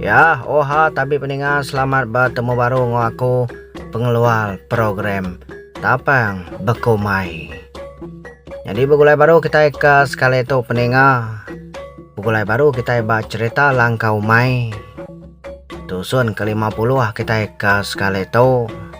Ya, oha tabi peninga selamat bertemu baru ngo aku pengeluar program tapang bekumai. Jadi begulai baru kita ke sekali tu peninga. Begulai baru kita ba cerita langkau mai. Tusun ke lima puluh kita ke sekali tu.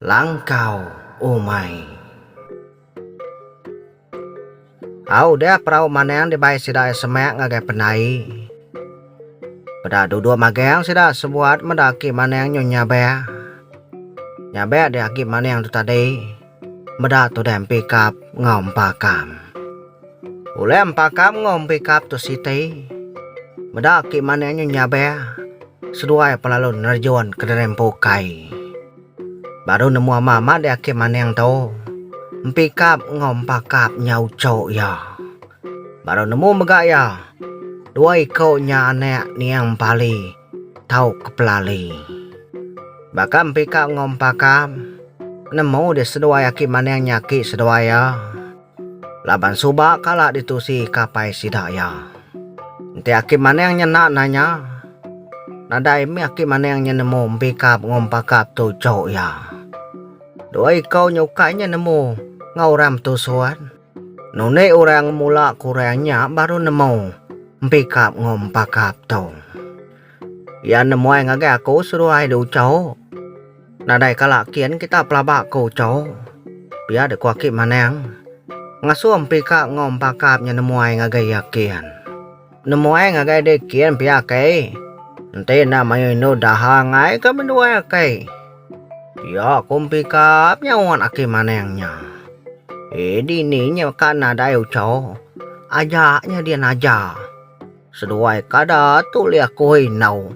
Langkau umai. Au deh perau maneng dibai sida iya semak ngagai pendai. Peda duduk magang sida sebuat meda aki maneng nyu nyabek. Nyabek deh aki maneng tu tadi meda tudah empikap enggau empakam. Ulih empakam enggau empikap tu siti meda agi manik nyu nyabek seduai pelalu nerjun kederempu kai. Baru nemu ama amat dia agi manik tu empikap enggau empakap nya uchu iya. Baru nemu mega iya dua iku nya anik niang pali tau ke pelali. Baka empikap enggau empakap nemu dia seduai agi manik nya agi seduai iya. Laban suba kala ditusi kapai sida iya. Enti aki maning nya enda nanya, nadai mih aki maning nya nemu mpikap enggau mpakap tu jok iya. Dua iku nya ukai nya nemu enggau orang betusun. Nunik orang ngemula ke orang nya baru nemu mpikap enggau mpakap tu. Iya nemuai ngagai aku seduai di Uchau. Nadai kala kin kita pelaba ke Uchau. Pia dek ku aki Manang. Ngasuh empi ka enggau empa kap nya nemuai ngagai iya kin. Nemuai ngagai dek kin pia kai. Enti enda mayuh indu daha angai ka menduai akai. Pia ku empi kap nyaut aki Manang nya. Eh dini nya ka nadai Uchau. Aja nya dian aja. Seduai kada tu lih aku indau.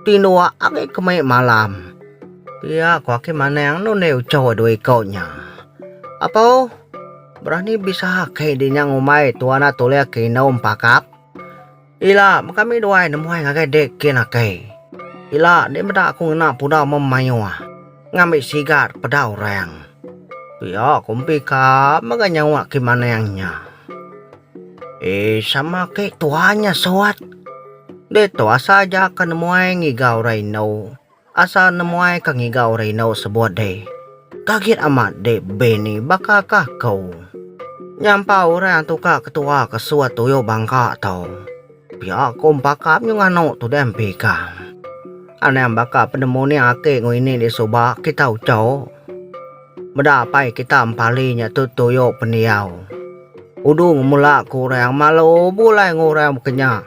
Tindua agi ke mai malam. Pia ko aki manang nun deh uchoh dua iko nya. Apoh, berani bisa aki di nyang umai tu anak tu lih aki indau empakap. Ila, kami duai nemuai ngagai dek kin aki. Ila, dek meda aku ngena pudau meh maioh. Ngambi sigat peda orang. Pia ko empi ka mega nyawa aki manang nya. Eii sama ake tua nya sot. Ditu asa aja ke nemuai ngiga orang indu. Asa nemuai ke ngiga orang indu sebut deh. Kagit amat deh be ni baka ka ko. Nyampau orang tu ka ketua ke sut tuyo bangka to. Pia ko empaka nyu nganu tu deh empi ka. Anang baka penemu ni ake ngo ini di suba kita ucho. Meda apai kita empali nya tu tuyo pendiau. Udu ngemula ke orang amat lo bulai enggau orang bekenya.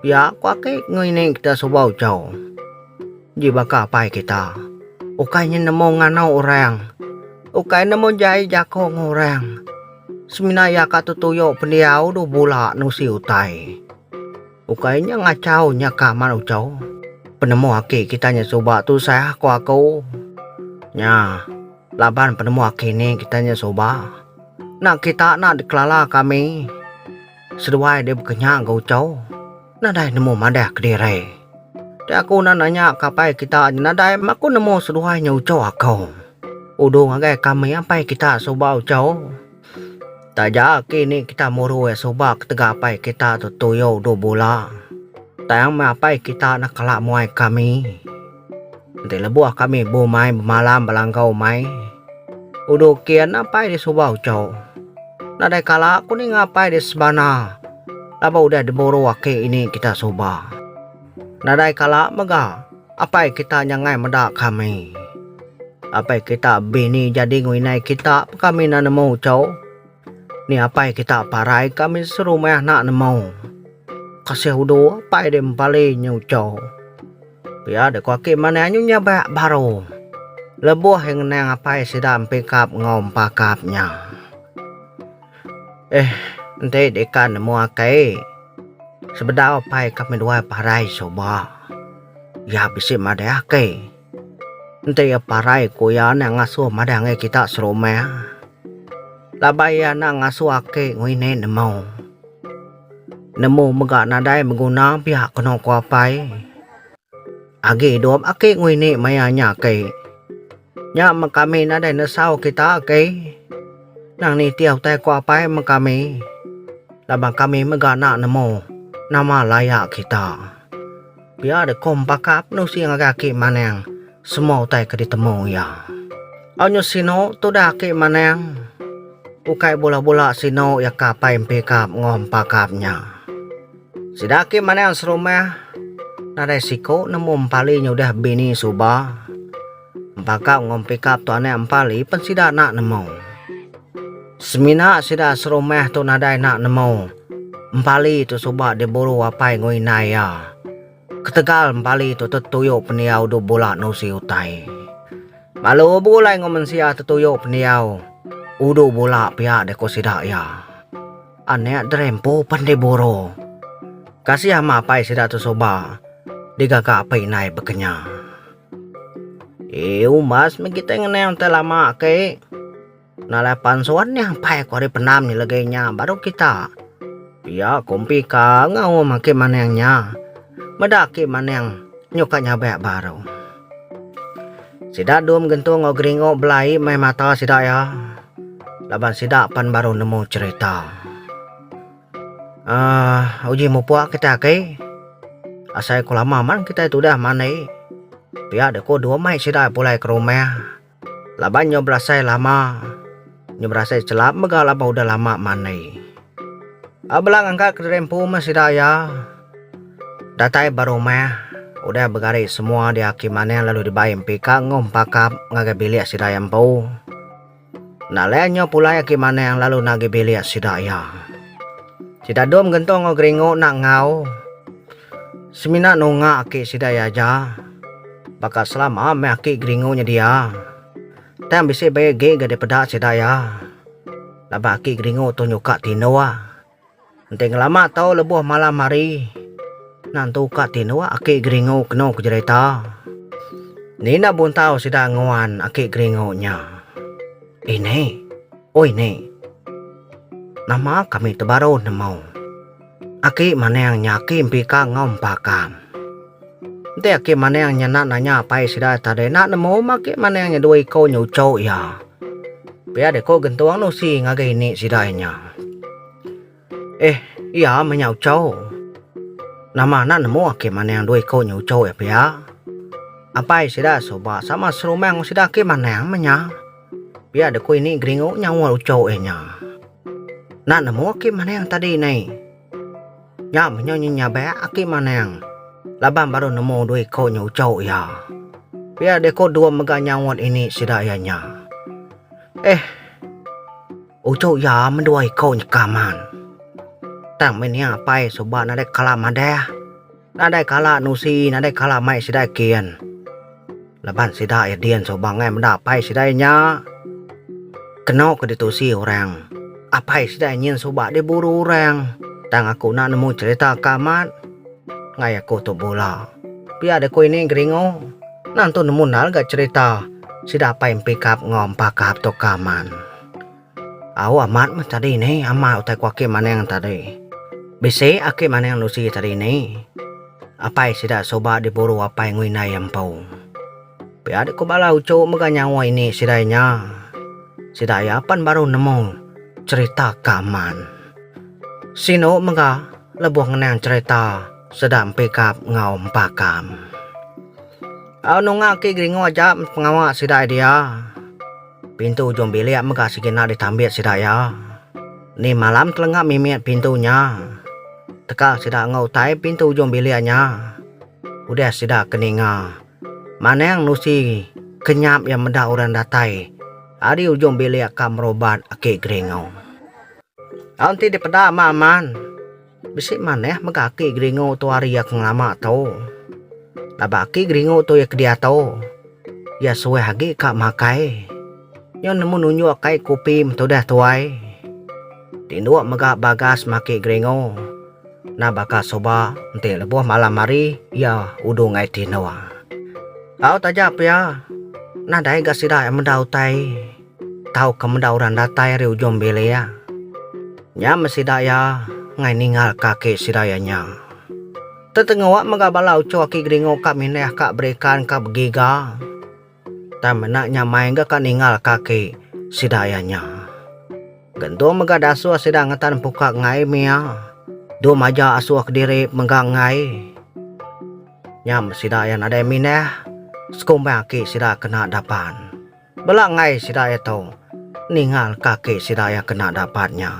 Pia ko ake ngini kita suba ucho. Ji baka apai kita. Ukai nya nemu ngano orang. Ukai nemu jai jako enggau orang. Semina iya ka tu tuyo pendiau udu bula nusi utai. Ukai nya ngachau nya ka amat uchaw. Penemu aki kita nya suba tu sah ko aku. Nya laban penemu aki ni kita nya suba. Nak kita nak dikelala kami. Seduai deh bekenya ga uchaw. Nadai nemu madah kediri. Ti aku na nanya ka apai kita nya nadai ma ko nemu seduai nya uchaw aku. Udu ngagai kami apai kita suba uchaw. Taja ki ni kita muru iya suba ketegal apai kita tu tuyo dua bula. Tang meh apai kita neh kala muai kami. Enti lebuh kami bumai bemalam belanggau mai udu kin apai di suba ucho. Nadai kala ku ninga apai di sebana laban udah diburu aki ini kita suba. Nadai kala mega apai kita nya ngai meda kami. Apai kita bini jadi ngwinai kita pa kami enda nemu uchu. Ni apai kita parai kami serumah enda nemu. Kasih udu apai deh mepali nyu uchu. Pia deh ku aki manah nyu nyabak baru. Lebuh iya ngenang apai sida empikap enggau empakap nya. Eh, enti deka nemu akai, sebedau apai ka meduai parai suba. Iya bisi madah akai. Enti iya parai ku iya enda ngasuh madah ngagai kita serumah. Laban iya enda ngasuh aki ngini nemu. Nemu mega nadai beguna pia kenu ku apai. Agi idup aki ngini maya nya aki. Nya meh kami nadai nesau kita ke nang nitih utai ko apai meh kami laban kami mega enda nemu nama laya kita. Pia deh ko empaka penusi ngagai aki maneng semua utai ke ditemu iya. Au nyu sinu tudah aki maneng ukai bula-bula sinu iya ka apai empi kap enggau empakap nya. Sida agi manang serumah nadai siku nemu empali nyudah bini suba. Empaka enggau pikap tu anak empali pen sida enda nemu. Semina sida serumah tu nadai enda nemu empali tu suba diburu apai enggau indai iya. Ketegal empali tu tetuyo pendiau dua bula nusi utai. Lalu begulai enggau mensia tetuyo pendiau udu bula pia deh ku sida iya. Anak Drempu pen diburu. Kasih ama apai sida tu suba digaga apai indai bekenya. Eh umbas meh kitai ngenang utai lama ke. Nalai pansuan nya apai ku ari pendam legi nya baru kita. Pia ku empi ka enggau um ake manang nya. Meda ake manang nyuk ka nyabek baru. Sida dum gentu enggau geringu bela ai meh mata sida iya laban sida pan baru nemu cherita. Aah uji mupuk kitai agi asai ku lama man kitai tudah mandi pia deh ku dum ai sida pulai ke rumah laban nyau belasai lama. Nya berasai chelap mega laban udah lama manei. A bela ngangkat kediri empu meh sida iya. Datai ba rumah, udah begari semua diaki manah lalu dibai empika enggau empakap ngagai bilik sida iya empu. Enda alai nyau pulai aki manah lalu nagi bilik sida iya. Sida dom gentung enggau geringu enda enggau. Semina nunga aki sida iya aja. Baka selama meh aki geringu nyedia. Tang bisi baya gig ga dipeda sida iya. Laban aki Geringo tu nyuka tinduk. Enti ngelama tau lebuh malam hari, enda nentu ka tinduk aki Geringo kenu ke jerita. Nina buntau sida nguan aki Geringo nya. Ini. Oi ni. Nama kami tebaru nemu. Aki maning nya aki mpika enggau empakam. Enti aki maning nya enda nanya apai sida tadi enda nemu meh aki maning nya dua iko nyucu iya. Pia deh ko gentung nusi ngagai ini sida nya. Eh iya meh nya uchu. Nama enda nemu aki maning dua iko nyucu iya pia. Apai sida suba sama serumah enggau sida aki maning meh nya. Pia deku ini geringu nyawa lucu iya nya. Enda nemu aki manang tadi nai. Nya menyo nyabak aki manang laban baru nemu dua iko nya uchu iya. Pia deko dua mega nyaut ini sida iya nya. Eh uchu iya men dua iko nyekam an. Tang meh nia apai suba nadai kala madah. Nadai kala nusi nadai kala mai sidai kin. Laban sida iya din suba ngai meda apai sidai nya keno ke ditusi orang. Apai sidai nyin suba diburu orang. Tang aku enda nemu cherita ke amat ngai aku tu bula. Pia deh ku ini geringu nang tu nemu endar ga cherita sida apai empikap enggau empakap tu ke amat. Au amat meh tadi ni ama utai ku aki Maneng tadi. Bisi aki Maneng Lucy tadi ni apai sida suba diburu apai ngui indai iya empu. Pia deh ku bala uchu mega nyawa ini sidai nya. Sida iya pan baru nemu cherita ke amat. Sinu mega lebuh ngenang cherita sida empikap enggau empakam. Au nunga aki Gringo aja pengawa sida iya dia. Pintu ujung bilik mega sekina ditambit sida iya. Ni malam telenga mimit pintu nya. Teka sida enggau utai pintu ujung bilik nya. Udah sida ke ninga. Manang nusi ke nyap iya meda orang datai ari ujung bilik ka merobat aki Geringau. Au enti dipeda ama aman. Bisi manah mega aki geringu tu ari iya ke ngelama tu. Laban aki geringu tu iya ke diatu, iya suah agi ka makai. Nyau nemu nunjuk kai kopi betudah tuai. Tinduk mega bagas meh aki geringu. Nah baka suba enti lebuh malam hari iya udu ngai tinduk. Au taja pia. Nadai ga sida meda utai. tauka meda orang datai ari ujung bilik iya. Nya meh sida iya enggai ninggalka aki sida iya nya. Tetengoa mega bala uchu aki geringu ka mindah ka berikan ka begiga. Tang mena nya mai ga ka ninggalka aki sida iya nya. Gentung mega dasuh sida ngetan empuka enggai mia. Dum aja asuh kediri mega enggai. Nya meh sida iya nadai mindah sekumbang aki sida kena dapan. Bela enggai sida iya tu ningal ka aki sida iya kena dapat nya.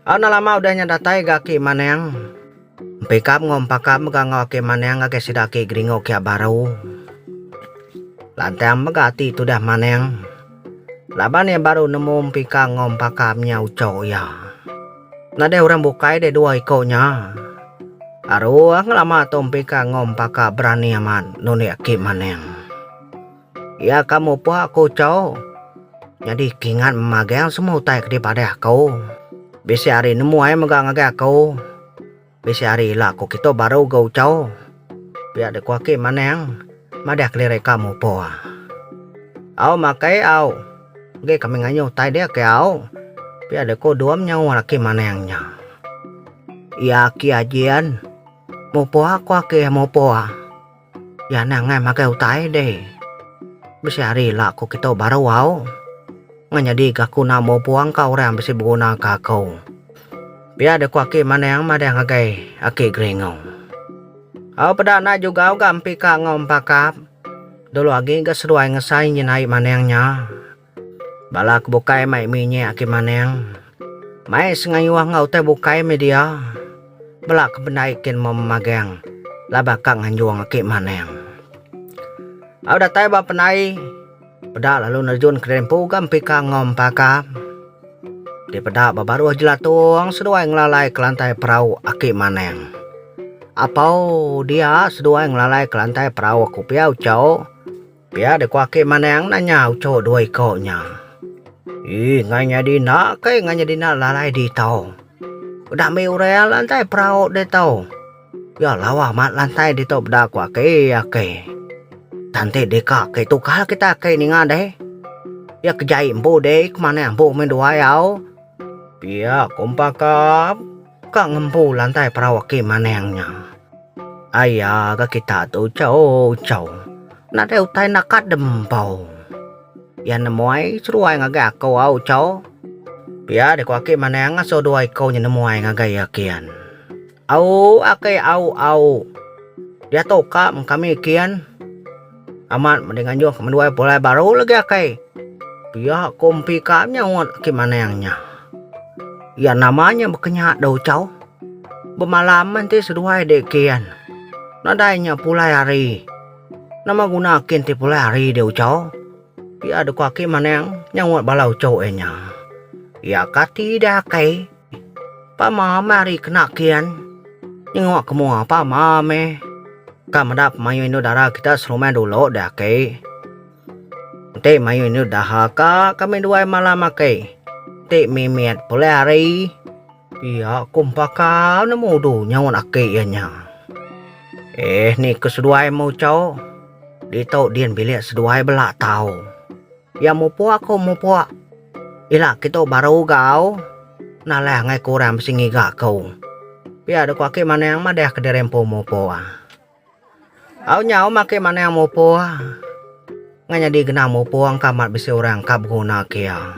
Au enda lama udah nya datai ga aki Manang. Empikap enggau Empakap mega enggau aki Manang ngagai sida aki Geringo kia baru. Lantang mega ati tudah Manang laban iya baru nemu Empika enggau Empakap nya ucho iya. Nadai orang bukai deh dua iko nya. Aruh ngelama tu Empika enggau Empakap berani amat nulik aki Manang. Iya ka mupuk aku chau. Nyadi kingat memagang semua utai ke dipadah aku. Bisi hari nemu ai mega ngagai aku. Bisi hari ila aku kitu baru ga uchau. Pia dek ku aki manang madah kelirik ka mupuk. Au makai au. Enggi kami ngayuh utai dia ke au. Pia dek ku Dum nyaut aki manang nya. Iya aki aji an. Mupuk aku aki mupuk. Iya neh angai magai utai deh. Bisi hari ila ko kito baru au. Ngan nyadi ga kuna mo puang ka orang yang bisi beguna ka ako. Pia deh ko aki manang madah ngagai aki Gringo. Au peda nai juga au ga mpi ka ngau empakap. Dulu agi ga seduai ngesai nyin ai manang nya. Bala ke bukai mai minyek agi maning, mai sengayuh enggau utai bukai meh dia. Bela ke bendai kin meh memageng, laban ka nganjung agi maning. Au datai ba penai, peda lalu nerjun ke diri empu ga empika enggau empaka. Ti peda ba baruh jelatung seduai ngelalai ke lantai perau agi maning. Apau dia seduai ngelalai ke lantai perau aku pia ucau. Pia deka Aki Manang nanya uchu dua iko nya. Ih, ngai nyadi enda kai ngai nyadi enda lalai diito. Udah mih orang lantai perau diito. Iya lawa mat lantai diito peda ko Aki, Aki. Tan ti deka Aki tukar kita Aki ninga deh. Iya ke jai empu deh, ke manah empu meh dua iya au. Pia ko empa ka. Ka ngempu lantai perau aki maneng nya. Aya ga kita tu ucho ucho. Nadai utai enda kadem empu. Iya nemuai seruai ngagai aku au ucho. Pia deh ku aki maneng ngasoh dua iko nya nemuai ngagai iya kian. Au aki au au. Diatu ka meng kami kian. Amat meda nganjung ke menduai pulai baru legi akai. Pia ko empi ka nyaut aki maneng nya. Iya nama nya bekenya dau chau. Bemalam enti seduai di kin. Nadai nya pulai hari. Nama guna kin ti pulai hari dau chau. Pia deka aki maneng nyaut bala uchu iya nya. Iya kati dai akai. Pama meh ari kena kin. Nyengok ke mua pama meh. Ka meda pemain indu dara kita serumah dulu deh aki. Enti mayuh indu daha ka kami duai malam aki. Enti mimit pulai hari. Pia ku empakau nemu udu nyaut aki iya nya. Eh ni ke seduai meh ucho. Ditu din bilik seduai bela tau. Iya mupuk aku mupuk. Ila kitu baru gau nalah angai ku orang bisi ngiga aku. Pia deh ku aki manang madah kediri empu mupuk. Au nyau meh aki manang mupuk ngan nyadi genang mupuk engka amat bisi orang ka beguna ke iya.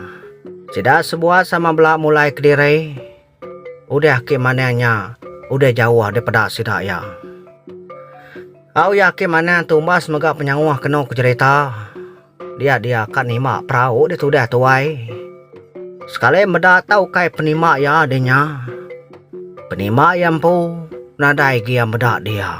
Sida sebuah sama bela mulai kediri. Udah ki manang nya udah jauh depeda sida iya. Au iya ki manang tumbas mega penyauh kenu ke jerita dia dia ka nima perau di tudah tuai. Sekali meda ta ukai penima iya di nya. Penima iya empu nadai gi iya meda dia.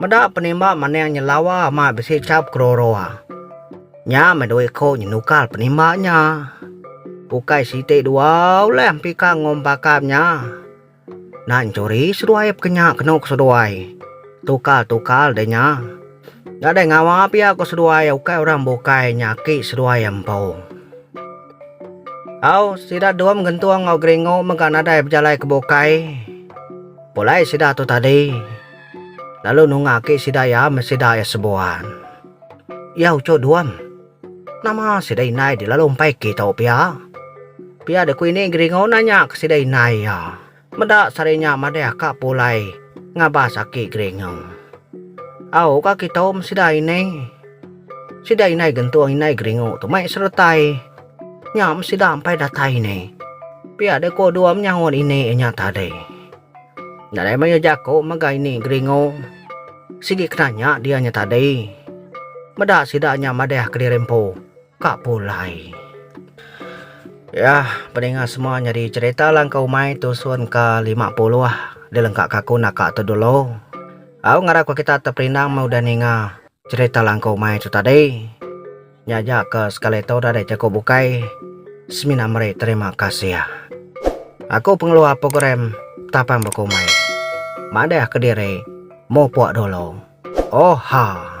Meda penimba maning nyelawa amat bisi chap keroroa. Nya meh doi ko nyenukal penimba nya. Ukai siti dua ulih empika ngom pakap nya. Enda enchuri seduai peka nya kenu ko seduai. Tukal-tukal deh nya. Enda deh ngawa pia ko seduai ukai orang bukai nya aki seduai empu. Au sida Dum gentung enggau Gringo mega nadai bejalai ke bukai. Pulai sida tu tadi, lalu nunga agi sida iya meh sida iya sebuan. Iya uchu duam. Nama sida indai dilalu empai agi tau pia. Pia dek ku ini Geringo nanya ke sida indai iya. Meda sehari nya madeh ka pulai ngabas aki Geringo. Au ka kitu meh sida ini. Sida indai gentung indai Geringo tu mai seretai. Nya meh sida ampai datai ini. Pia deh ko dua menyaut ini inya tadi. Nadai maya jako mega ini geringo. Sigi kena nya dia nya tadi. Meda sida nya madah kediri empu ka pulai. Yah peninga semua nyadi cerita langkau umai tusun ka lima puluh dilengka ka aku naka tu dulu. Au ngarap ka kita teperindang meh udah ninga cerita langkau umai tu tadi. Nya aja ke sekali tu udah deh jaku bukai semina meri terima kasih. Aku pengeluar program tapan bekumbai. Madah kediri mupuk dulu. Oha.